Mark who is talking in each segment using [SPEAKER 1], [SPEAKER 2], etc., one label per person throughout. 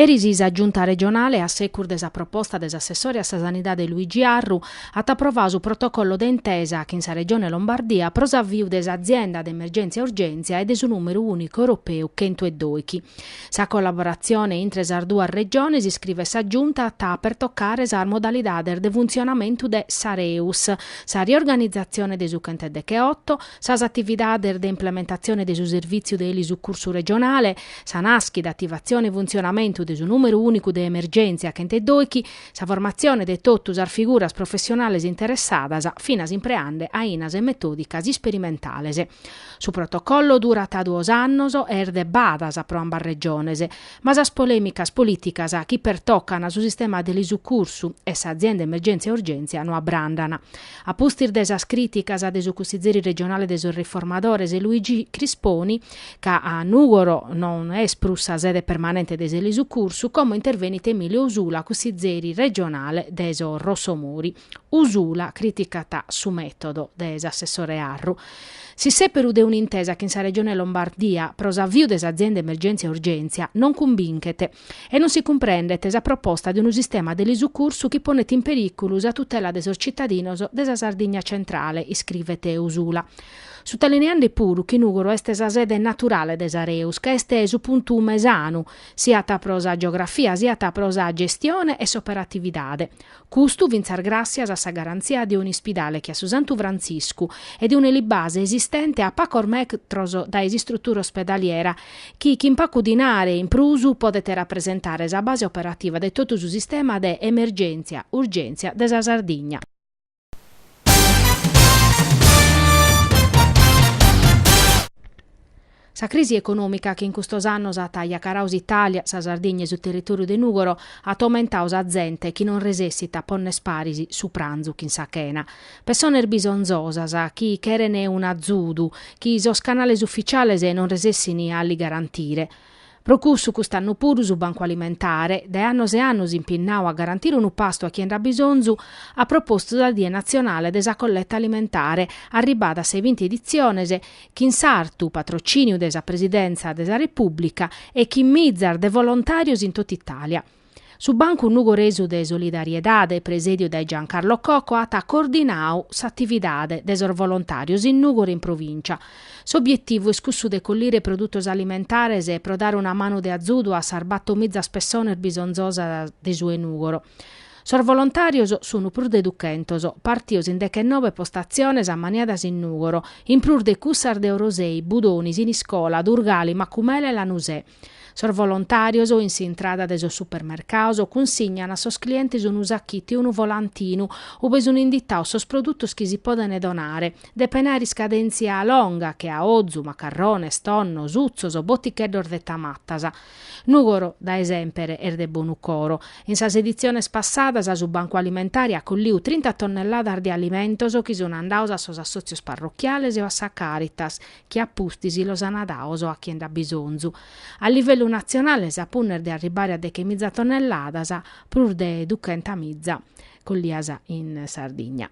[SPEAKER 1] Eris sa Giunta regionale, a secur de sa proposta de s'assessore a sa Sanidade Luigi Arru, at aprovadu su protocollo de intesa chin sa Regione Lombardia pro s'aviu de s'Azienda de Emergèntzia-Urgèntzia e de su nùmeru ùnicu europeu chentu e doichi. Sa collaboratzione intre sas duas Regiones, iscrivet sa Giunta, at a pertocare sas modalidades de funtzionamentu de s'Areus, sa riorganizatzione de su chent'e decheoto, sas atividades de implementatzione de su servìtziu de elisucursu regionale, sa nàschida, ativatzione e funtzionamentu de su nùmeru ùnicu de emergèntzia chent'e doichi, sa formatzione de totu sas figuras professionales interessadas, finas impreande ainas e metòdicas isperimentales. Su protocollo durat duos annos e est de badas pro ambas regiones, ma sas polèmicas polìticas chi pertocan su sistema de elisucursu e s'azienda emergèntzia-urgèntzia no abrandana. A pustis de sas crìticas de su Cussizeri Regionale de sos Riformadores, Luigi Crisponi, ca a Nùgoro non est prus sa sede permanente de s'elisucursu, como intervenit Emilio Usula, Cussizeri Regionale de sos Rossomori. Usula crìticat su mètodu de s'assessore Arru. S'issèperu de un'intesa chin sa Regione Lombardia pro s'aviu de s'azienda Emergèntzia-Urgèntzia non cumbinchet. E non si cumprendet sa proposta de unu sistema de elisucursu chi ponet in perìculu sa tutela de sos tzitadinos de sa Sardigna centrale, iscrivet Usula, sutalineande puru chi Nùgoro est sa sede naturale de s'Areus, ca est su puntu mesanu, siat pro sa geografia siat pro sa gestione e s'operatividade, Custu fintzas gràsias a sa garantzia de un'ispidale che a su Santu Frantziscu e de un'elibase esistente a pacos metros dae s'istrutura ospedaliera chi, chin pacu dinare in prus, podet rapresentare sa base operativa de totu su sistema de emergèntzia-urgèntzia de sa Sardigna. Sa crisi econòmica chi in custos annos at ajacarau s'Itàlia, sa Sardigna e su territòriu de Nùgoro at aumentau sa zente chi non resessit a ponner paris su pranzu chin sa chena. Pessones bisonzosas chi cheren un'azudu chi sos canales ufficiales non resessin a li garantire. Pro cussu cust'annu puru su Bancu Alimentare, dae annos e annos impinnau a garantire unu pastu a chie nd'at bisonzu, at propostu sa Die natzionale de sa colletta alimentare, arribada a sa 'e binti editziones, chin s'artu patrocìniu de sa Presidèntza de sa Repùblica e chin mizas de volontàrios in tot'Itàlia. Su Bancu Nugoresu de Solidariedade, presèdiu dae Giancarlo Cocco, at coordinau s'atividade de sos volontàrios in Nùgoro e in provìncia. S'obietivu est cussu de collire produtos alimentares pro dare una manu de azudu a sas bator mizas pessones bisonzosas de su 'e Nùgoro. Sos volontàrios sunt prus de duchentos, partios in dechenobe postatziones ammaniadas in Nùgoro, in prus de cussas de Orosei, Budoni, Siniscola, Durgali, Macumele e Lanusè. Sos volontàrios, in s'intrada de sos supermercados, cunsignan a sos clientes unu sachitu e unu volantinu, ube sun inditados sos produtos chi si podent donare, depen àere iscadèntzia longa, che a ozu, macarrones, tonno, sutzos, boticheddos de tamatas. Nùgoro, dae semper, est de bonu coro. In sas editziones passadas su Bancu Alimentare at collidu trinta tonnelladas de alimentos chi sun andados a sos assòtzios parrochiales o a sa Càritas, chi a pustis los ana dados a chie nd'at bisonzu. A livellu natzionale sa punna est de arribare a dechemiza tonnelladas, prus de duchentamiza collias in Sardigna.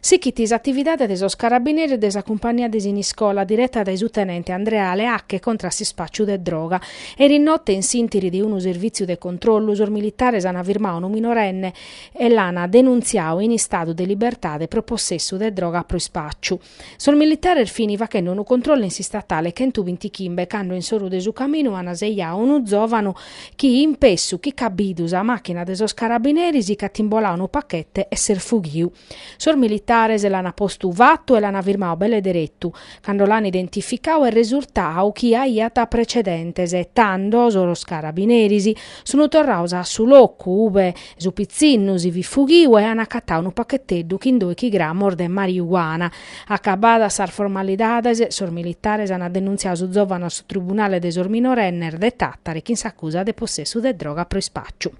[SPEAKER 1] Sichit s'atividade de sos carabineris de sa cumpagnia de Siniscola, direta dae su tenente Andrea Leacche contra a s'ispàciu de droga. Erinotte, in s'ìntiri de unu servìtziu de controllu, sos militares ana firmadu unu minorenne, e l'an denuntziadu in istadu de libertade pro possessu de droga pro ispàciu. Sos militares fin faghende unu controllu in s'Istatale chentuvintichimbe cando in s'oru de su caminu an sejadu unu zòvanu chi, in pessu chi ch'at bidu sa màchina de sos carabineris, ch'at imboladu unu pachete e s'est fughidu. Sos militares l'an postu fatu e l'an firmadu belle deretu. Cando l'an identificadu est resurtadu chi aiat precedentes, tando sos carabineris Sun torrados a su locu ube su pitzinnu si fit fughiu e an acatadu unu pachetteddu chin doichi gramos de mariuana. Acabadas sas formalidades, sos militares an denuntziadu su zòvanu a su Tribunale de sos Minorennes de Tàtari chin s'acusa de possessu de droga pro ispàciu.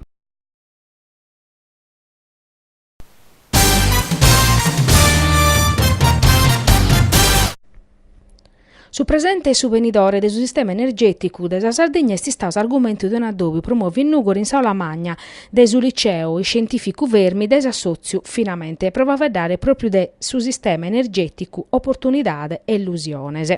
[SPEAKER 1] Su presente e su benidore de su sistema energèticu de sa Sardegna est istadu s'argumentu de un'adòbiu promòviu in Nùgoro in s'àula magna de su liceu iscientìficu Fermi de s'assòtziu Finamente pro faveddare pròpriu de su sistema energèticu oportunidade e illusiones.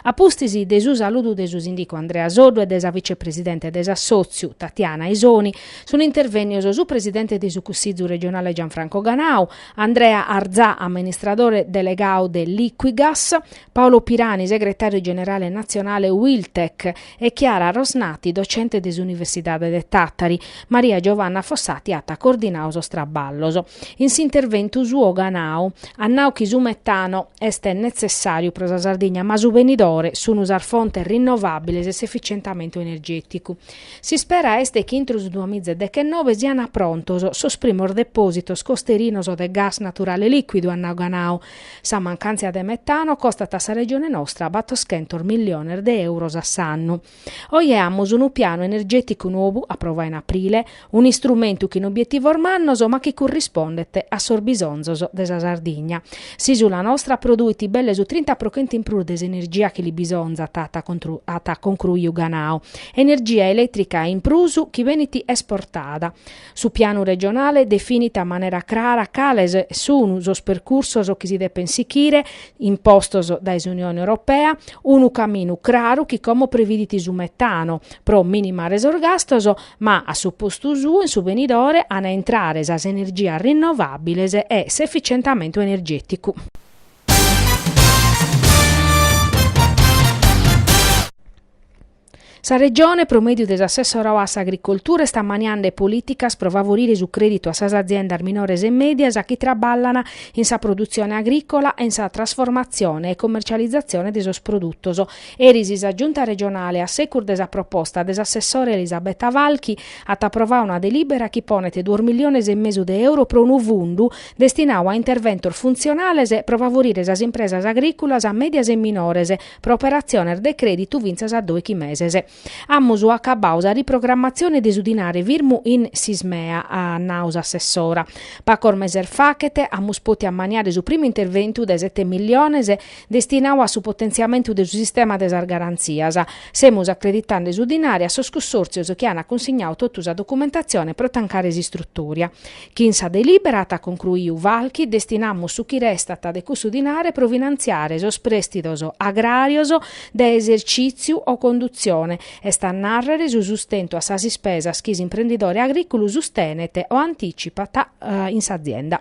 [SPEAKER 1] A pustis de su saludu de su sìndicu Andrea Soddu e de sa vicepresidente de s'assòtziu Tatiana Isoni, Sunt intervènnios su presidente de su Cussizu regionale Gianfranco Ganau, Andrea Arzà, amministradore delegadu de Liquigas, Paolo Pirani, segretàriu generale natzionale Uiltec, e Chiara Rosnati, docente de s'Universidade de Tàtari. Maria Giovanna Fossati at coordinadu sos traballos. In s'interventu suo Ganau at nau chi su metano est netzessàriu pro sa Sardigna ma su benidore sunt sas fontes rinnovàbiles e s'efitzientamentu energèticu. S'ispera est chi intrus duas miza e dechennobe siant prontos sos primos depòsitos costerinos de gas naturale lìcuidu, at nau Ganao. Sa mancàntzia de metano costat a sa Regione nostra batoschentos milliones de èuros a s'annu. Oje amus unu pianu energèticu nou aprovau in aprile, un'istrumentu chin obietivos mannos ma chi currispondet a sos bisonzos de sa Sardigna. S'ìsula nostra produit belle su trinta pro chentu in prus de s'energia chi li bisonzat, at concruiu Ganao. energia elètrica in prus chi benit esportada. Su pianu regionale definit a manera crara cales sunu sos percursos chi si depen sichire, impostos dae s'Unione Europea, unu caminu craru chi como previdit su metano, pro minimare sos gastos, ma a su postu suo in su benidore an a intrare sas energias rinnovàbiles e s'efitzientamentu energèticu. Sa Regione, pro mèdiu de s'assessorau a s'Agricoltura, est ammaniande polìticas pro favorire su crèditu a sas aziendas minores e mèdias chi traballan in sa produtzione agrìcola e in sa trasformatzione e commercializatzione de sos produtos. Eris sa Giunta regionale, a segus de sa proposta de s'assessora Elisabetta Falchi, at aprovau una delìbera chi ponet duos milliones e mesu de euro pro unu fundu destinau a interventos funtzionales pro favorire sas impresas agrìculas mèdias e minores, pro operatziones de crèditu fintzas a dòichi meses. Amus acabbau sa riprogramatzione de su dinare firmu in s'Ismea, at nau s'assessora. Pacos meses fachet amus pòtiu ammaniare su primu interventu de sete milliones destinau a su potentziamentu de su sistema de sas garantzias. Semus acreditande su dinare a sos cussòrtzios chi an cunsignau totu sa documentatzione pro tancare s'istrutoria. Chin sa delìbera, at concruiu Falchi, destinamus su chi restat de cussu dinare pro finantziare sos prèstidos agràrios de esercìtziu o condutzione, est a nàrrere su sustentu a sas ispesas chi s'imprendidore agrìculu sustenet o antìtzipat in s'azienda.